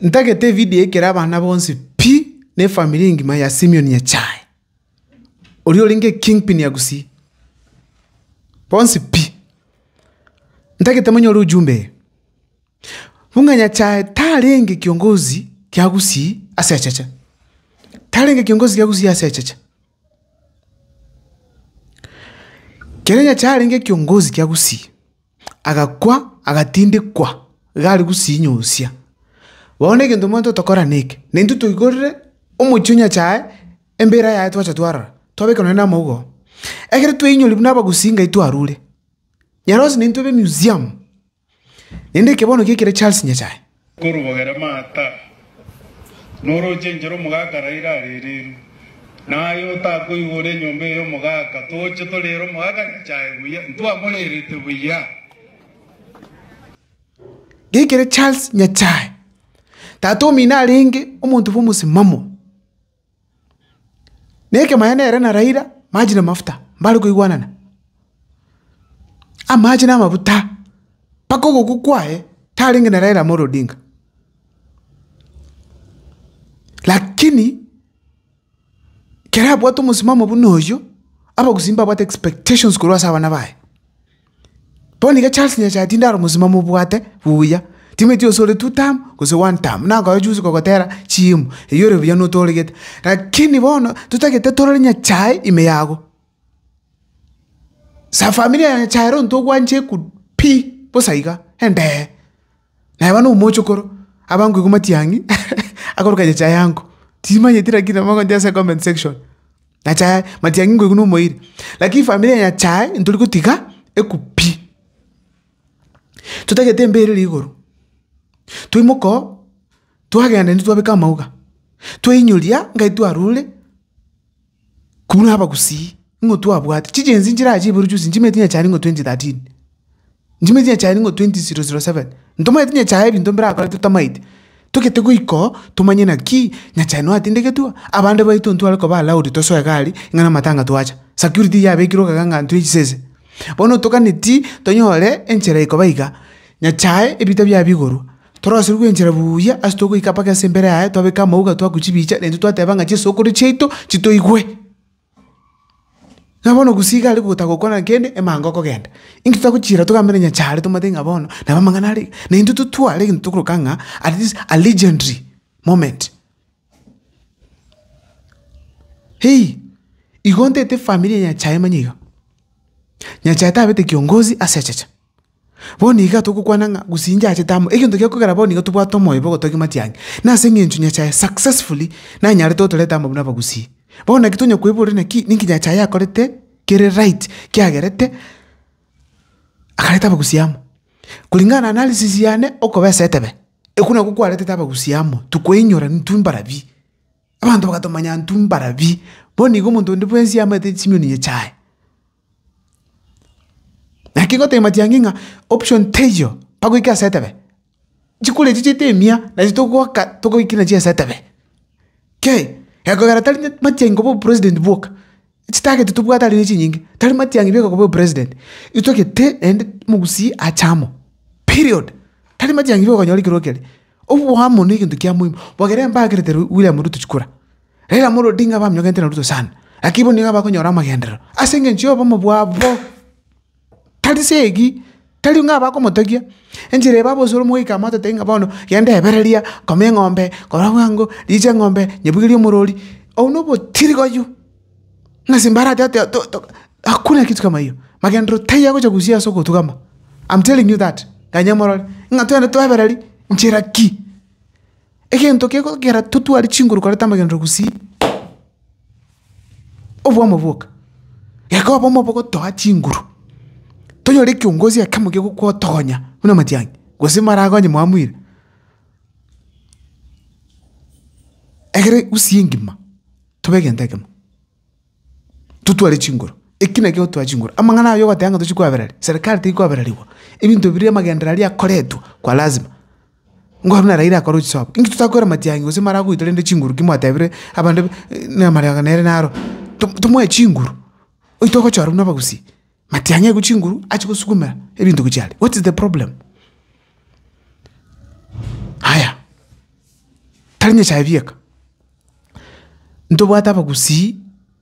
Ntagete evidio ekero abana bonsi pi, na efamiri engima ya Simion echae, oria orenge ekingpin ya Gusii, bonsi pi. Ntagete monyore ujumbe eye, buna nyachae tarenge kiongozi kia Gusii ase echeche, tarenge kiongozi kia Gusii ase echeche. Kere nyachae arenge kiongozi kia Gusii. agakwa, agatindikwa iga are gosinyosia. Bono egento omanyete otokora neke, na intwe toigorere omochie o Nyasae embira yaye twacha twarora, twabeka nonye na amauga oo. Ekero twainyori buna abagusii ngai twarure, nyarosie naintwe be museum, naende ekebonokio ekere Charles Nyasae. Korwogera maata, norochenchera omogaka raire arereru, na aye otakoigora enyomba eye omogaka, toche torere omogaka nyachae buya, ntwamorerete buya. Geikere Charles Nyachae, tata omino arenge omonto bw'omosimamo. Nekemanya nere na Raila, maji na mafuta, mbare koigwanana. Amache na amafuta, mpaka ogokwa kwaye tarenge na Raila Amolo Odinga. Lakini, kera abwate omosimamo buna oyio, abagusii mbabwate expectations korwa ase abana baye. Bono iga Charles Nyasae tindi are omosibwa mobwate buya, timanyeti gose ore two term gose one term, nakoba juzi kogotera chimu, eyi ore buya notoregete, rakini bono totagete torore Nyasae ime yago. Sa familia ya Nyasae ere ontwe ogwanchekwu pi, bosa iga, endee. Naye bono omochokoro, abankwa igo matiang'i, akoroka aye chaye ango, timanyeti lakini namogochia ase comment section, na chaye, matiang'i nkoigwa nomoeire. Lakini efamiri eye ya chaye, ntori gotiga ekwu pi. Totagete embeyo erere igoro, twaimoka oo, twagenda intwe twabeka amauga, twainyoria ngaki twarure. Kobua nabagusii, nigo twabwate chijensi nchirache iboro chionsi nchimeti inye chane nigo 2013, nchimeti inye chane nigo 2007, ntomaete inye chaye ebinto mbirakore totamaete, togete goika oo tomanye naki inye chane noatindegetua, abande baito ntware koba allowed tosoe egari ng'a na amatanga twacha, security yabekire okagera ng'a ntwe chisese. Bono otoganeti tonyore enchera ekoba iga, inye chaye ebita biaye bigorwa. Torosirie gwenchera buya ase togoika mpaka ase embere yaye, twabeka amauga, twaku chibicha, naintwe twateba ng'a chisokoro chiaito chitoigwe. Ng'a bono gusii iga are gotaka gokwana kende, emango okogenda. Inki totagochiira togambe na Nyanchare tomanyete ng'a bono nabo amang'ana are iga? Naintwe totware egento tokoroka ng'a at least a legendary moment. Hei! Igo ntete efamiri ya nyasae manye iga. Nyasae tabete kiongozi ase echeche. Bono iga togokwana ng'a gose inche achete amo, egento kia kogera bono iga tobwate omoyo bwa ogotogia matiang'i, nase eng'encho nyasae successfully nanyarete otoreta amo buna abagusii. Bono naki tonya koiborera naki, ninki nyasae akorete kere right, kiagerete akareta abagusii amo. Kulingana na analysis yane, okobesa etebe. Ekio nakio kwaretete abagusia amo, tokoinyora intwe mbarabie. Abanto bagatomanya intwe mbarabie, bono igo omonto onde bwensi aamanyete chinyoni chiaye. Naki ngotebia matiang'i ng'a option teiyo, mpaka oike ase etebe. Chikoro echi chiaito emia, nachi togoaka togoikire nachi ase etebe. Kei, egekogera tari matiang'i koba obopresident bwoka. Chitagete tobwate are ne chinyinge, tari matiang'i beka koba president. Intwe gete naende omogusii ache amo. Period. Tari matiang'i beka konyora ekero kere. Oboamo ne egento kia moimo. Bogere mbakerete William Ruto chikura. Raila Amolo Odinga baminyokenete na Ruto sana. Lakini bono nigo abakonyora amagenderero. Ase engencho ya obomo bwabo. Tari segi, tari ng'a abakomotegia, enchera eba bonsi ore omogoika amotetetie ng'a bono genda ebereria, kama eng'ombe, kora bwango, richa eng'ombe, nyebugerie omorori, obwo na obotirigoyu, ng'a ase mbarati ati to- to hakuna kitu kama hiyo, magenderero taiyo agocha gosia ase ogotugama, am telling you that, ganya morore, ng'a twende twebereri, nchera ki? Egento kegokera totware chinguru koreta amagenderero gosii. Obwamo boka. Yakobo omo bogotoa chinguru. Tonyore ekiongozi ekemo gegokotogonya buna amatiang'i, gose maragonye mwamwire. Ekero Gusii engima tobe egento ekemo. Totware chinguru. Eki nakio otoa chinguru. Amang'ana ayio ogoteba ng'a tochi kwabereri. Serikali teri kwabererigwa. Ebinto biria amagendera aria akoretwe kwa lazima. Nkorwa naraire akore chisaabo, inki totakoira matiang'i gose mara agoita rende chinguru ki mwatebire abanto ba- namariga nere naro, to- tomoe chinguru, oito ogochora buna abagusii, matiang'i aigwe chinguru ache gosukumera ebinto gochia aria, what is the problem? Haya, tari nyasae bieka, ntobwate abagusii.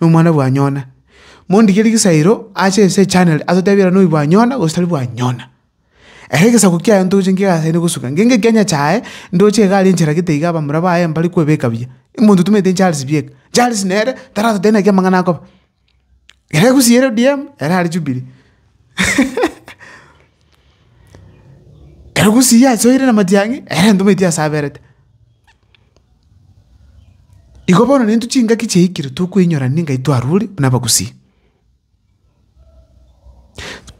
nomwana bwa Yona. Mondigerie gesairo ache ense echanere atotebie era noyo bwa Yona gose tari bwa Yona. Ere egesaku kiaye ntoche nkiga asende gosuka, ngenge ekianya kiaye ndoche igare enchera gete iga abamura baye mbare kwebeka buya. Omonto tomenyete Charles bieka. Charles nere taratotebie naki amang'ana akoba. Ere egusie ere ODM, ere are Jubilee. Ere egusie ase oire na matiang'i, ere ntomanyeti ase aberete. Igo bono nintwe chingaki chiaikire tokweinyora n'engencho twarure buna abagusii.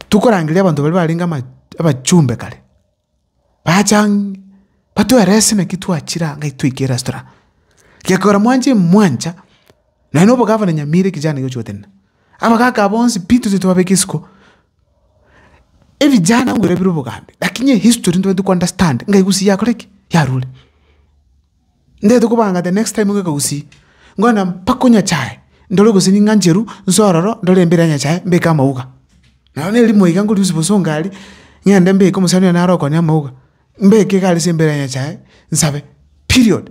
Tokorangeria abanto baria barenge ama- abachumbe kare, bacha ang'e batwerese naki twachire ang'e toike restaurant. Gekogera mwanche mwancha. Naende obogavana nyamira ekichana ekio chigotenena. Abagaka bonsi pi tose tobabeke isiko. Ebichana ngwira bire obogambi, lakini ehistory ntobwenerete ko understand ng'a egusii yakore ki? Yarure. Ntaete kobanga the next time ng'ake gusii, ngoenda mpaka o Nyachae, ndore gose ning'ancheru, nse ororo, ndore embere ya Nyachae, mbeke amauga. Naro na erimo iga nkoria Yusufu ase Ongari, ng'ende mbeke omosani one naro okonia amauga, mbeke iga ase embere ya Nyachae, nsabe. Period.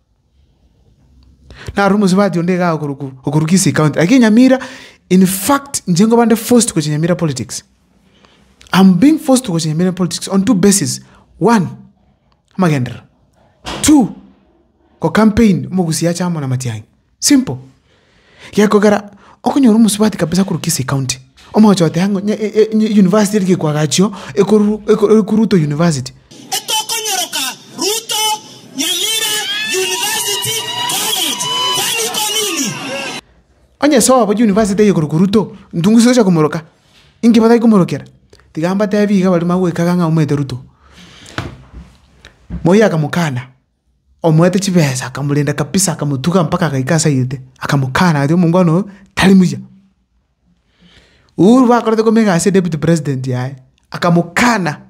Naroro omosubati onde igaa okoruku okoru Kisii county, lakini Nyamira in fact inche nkoba nde forced gochia Nyamira politics. Am being forced gochia Nyamira politics on two basis, one, amagenderero, two, ko campaign, omogusii ache amo na matiang'i. Simple. Gekogera okonyora omosubati kabisa korwa Kisii County, omogocha goteba ng'a onye e- e- university eri gekwaga achio, ekoruru eko- ekwa Ruto University. Etokonyoroka Ruto Nyamira University College, kwani iko nini? Onye sobo university eye korokwa Ruto, ntungu ase gocha komoroka? Inki batari komorokera? Tiga mbatebi iga baria bagoikaga ng'a aumete Ruto. Moi akamokana. Omoete chibesa akamorenda kabisa akamotuga mpaka agaika ase ayete akamokana aria omongwana oyo tari muya. Uhuru bakorete kome egasi ya deputy president yaye akamokana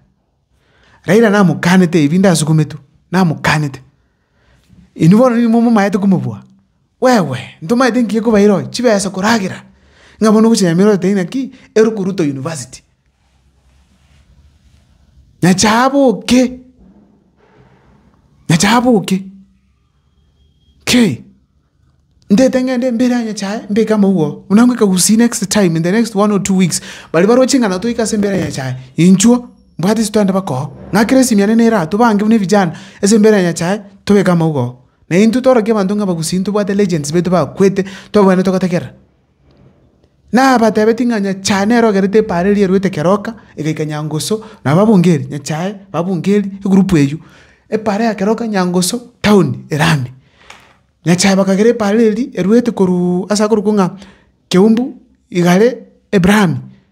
Raila namokanete ebi ndasukumetwe namokanete. Inwe bono nigo momaete komobua. Gwegwe, ntomaete ngiya kobaira oye chibesa koragera ng'a bono ogocha Nyamira oteba inaki ero koruta university. Nyache aboke, nyache aboke, kei, ndete ng'ende mbere aa Nyachae mbeke amauga oo, buna ngoika will see next time in the next one or two weeks, baria baroche ng'a nabo toike ase mbere ya Nyachae, inchuo, mbwate ase twagenda baka oo, ng'akere esimi yane nere aa, tobange buna evijana ase mbere ya Nyachae tobeke amauga oo. Na intwe tworokia abanto ng'a abagusii ntobwate legends baito bakwete, twabwenerete gotegerera. Nabatebetie ng'a nyachae nere ogerete epaaro eria erwete keroka, egaika nyangusu, nabo babunga eeri, nyachae, babunga eeri, egroup eywo, epaaro ya keroka, nyangusu, town ere ande. Nyachae bakagera epaaro eria erwete korwa ase akorokwa ng'a keumbu, igare, ebrahamia.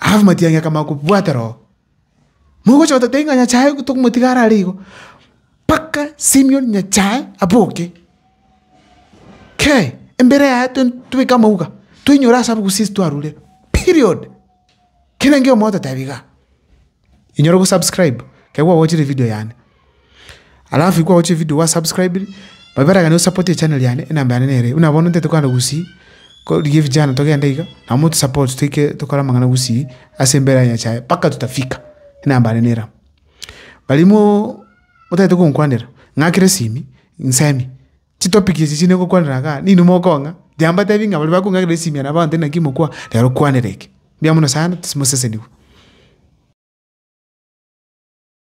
Alafu matiang'i akamanya kobwatera oo, mogocha gototebi ng'a Nyasae tokomotiga are aria igo, mpaka Simion Nyasae aboke. Kei, embere yaye to tobeke amauga, toinyore ase abogusii twarure, period. Kera enkeo mogototebi igaa. Inyora ogosubscribe ekero kwagochire evidio yane. Alafu ekero kwagochire evidio gwasubscribiri, babere gani osapote echaneri yane, enamba yane nere eye. Buna bono ntete kogenda gosii, ko rigia evijana togende iga, na motusapote toike tokore amang'ana gosii ase embere ya Nyasaye mpaka tutafika, enamba yane nere amo. Barimo motagete gonkwanera, ng'akera esimi, nsemi. Chitopic echi chine gokwanera igaa, ninwe mokong'a, Jamba atebi ng'a baria bakong'akerera esimia nabo abanto inaki mokwa, rero kwanera eke. Mbuya mono sana, timosesenigwe.